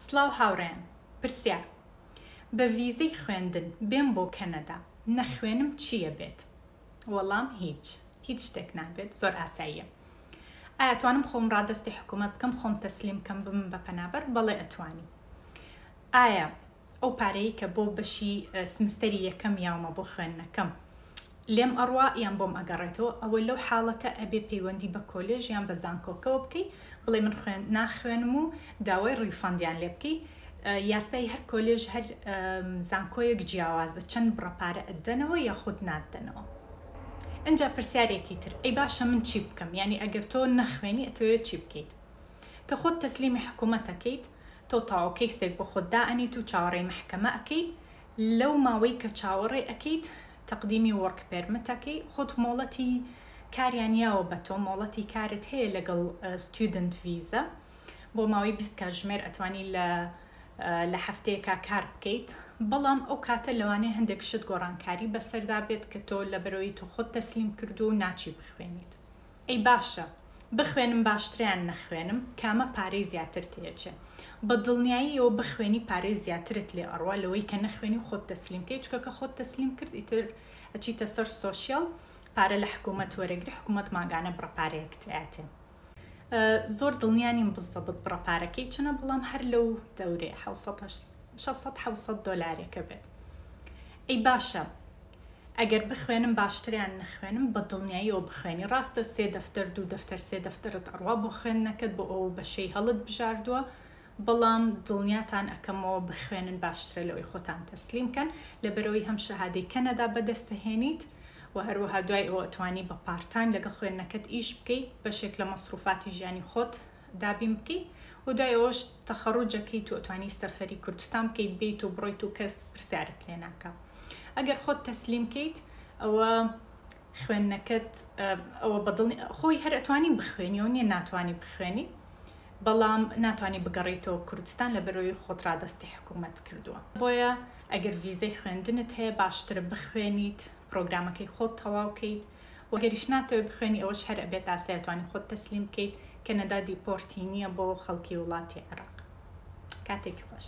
سڵاو هاوڕێیان پرسیار بە ڤیزەی خوێندن بێم بۆ کەنەدا نەخوێنم چیە بێت وەڵام هیچ هیچ شتێک نابێت زۆر ئاساییە ئایا توانم خۆم ڕادەستی حکوومەت بکەم خۆم تەسلیم کەم بم بە پەنابەر بەڵێ ئەتوانی ئایا ئەو پارەی کە بۆ بەشی سمستەری یەکەم یاومە بۆ خوێندنەکەم لێم ئەڕوا یان بۆم ئەگەڕێتەوە ئەوە لەو حاڵەتە ئەبێ پەیوەندی بە کۆلێژ یان بە زانکۆکەوە بکەی بڵێ من خوێن ناخوێنم و داوای ڕیفەندیان لێ بکەی یاسای هەر کۆلێژ هەر زانکۆیەک جیاوازە چەند بڕە پارە ئەدەنەوە یاخود نادەنەوە ئەجا پرسیارێکی تر ئەی باشە من چی بکەم یعنی ئەگەر تۆ نەخوێنی ئەتەوێت چی بکەیت کە خۆت تەسلیمی حکوومەتەکەیت تۆ تاوە کەیسێک بۆ خۆت دائەنێیت و چاوەڕێی مەحکەمە ئەکەیت، لەو ماوەی کە چاوەڕێ ئەکەیت تەقدیمی وۆرک پێرمت ئەکەی، خۆت مۆڵەتی کاریان یاوە بە تۆ، مۆڵەتی کارت هەیە لەگەڵ ستیودنت ڤیزە، بۆ ماوەی بیست کاتژمێر ئەتوانی لە لە هەفتەیەکا کار بکەیت، بەڵام ئەو کاتە لەوانەیە هەندێک شت گۆڕانکاری بەسەردا بێت کە تۆ لەبەرئەوەی تۆ خۆت تەسلیم کردووە و ناچی بخوێنیت. ئەی باشە بخوێنم باشترە یان نەخوێنم کامە پارەی زیاتر تێچێ بە دڵنیاییەوە بخوێنی پارەی زیاترت لێ ئەڕوا لەوەی کە نەخوێنی و خۆت تەسلیم کەی چکە کە خۆت تەسلیم کرد ئیتر ئەچیتە سەر سۆشیال پارە لە حکوومەت وەرەگری حکوومەت ماگانە بڕە پارەیەکت ئەیاتێ زۆر دڵنیا نیم بزدەبت بڕە پارەکەی چنە بەڵام هەر لەو دەورێ 600 دۆلارێکە بێت ئەی باشە ئەگەر بخوێنم باشتریان نەخوێنم بە دڵنیاییەوە بخوێنی ڕاستە سێ دەفتەر دوو دەفتەر سێ دەفتەرت ئەڕوا بۆ خوێندنەکەت بۆ ئەو بەشەی هەڵت بژاردووە بەڵام دڵنیاتان ئەکەمەوە بخوێنن باشترە لەوەی خۆتان تەسلیم کەن لەبەرەوەی هەم شەهادەی کەنەدا بەدەستەهێنیت و هەروەها دوای ئەوە توانی بە پارتایم لەگەڵ خوێندنەکەت ئیش بکەی بەشێک لە مەسروفاتی ژیانی خۆت دابین بکەیت و دوای ئەوەش تەخەڕوجەکەی تۆ توانی سەفەری کوردستان بکەیت بیت و بڕۆیت و کەس پرسیارت لێ ناکە ئەگەر خۆت تەسلیم کەیت ئەوە خوێندنەکەت ئەوە بەدڵنی خۆی هەر ئەتوانی بخوێنی و نیە ناتوانانی بخوێنی بەڵام ناتوانانی بگەڕیتەوە کوردستان لە بەرەوەی خۆت ڕادستی حکوومەت کردووە بۆیە ئەگەر ویزەی خوێندنت هەیە باشترە بخوێنیت پرۆگرامەکەی خۆت تەواوکەیت وە گەریش ناتەوێ بخوێنی ئەوەش هەر ئەبێت ئاسای ئەتوانی خۆت تەسلیم بکەیت کەنەدا دیپۆرتی نیە بۆ خەڵکی وڵاتی عێراق کاتێکی خۆش.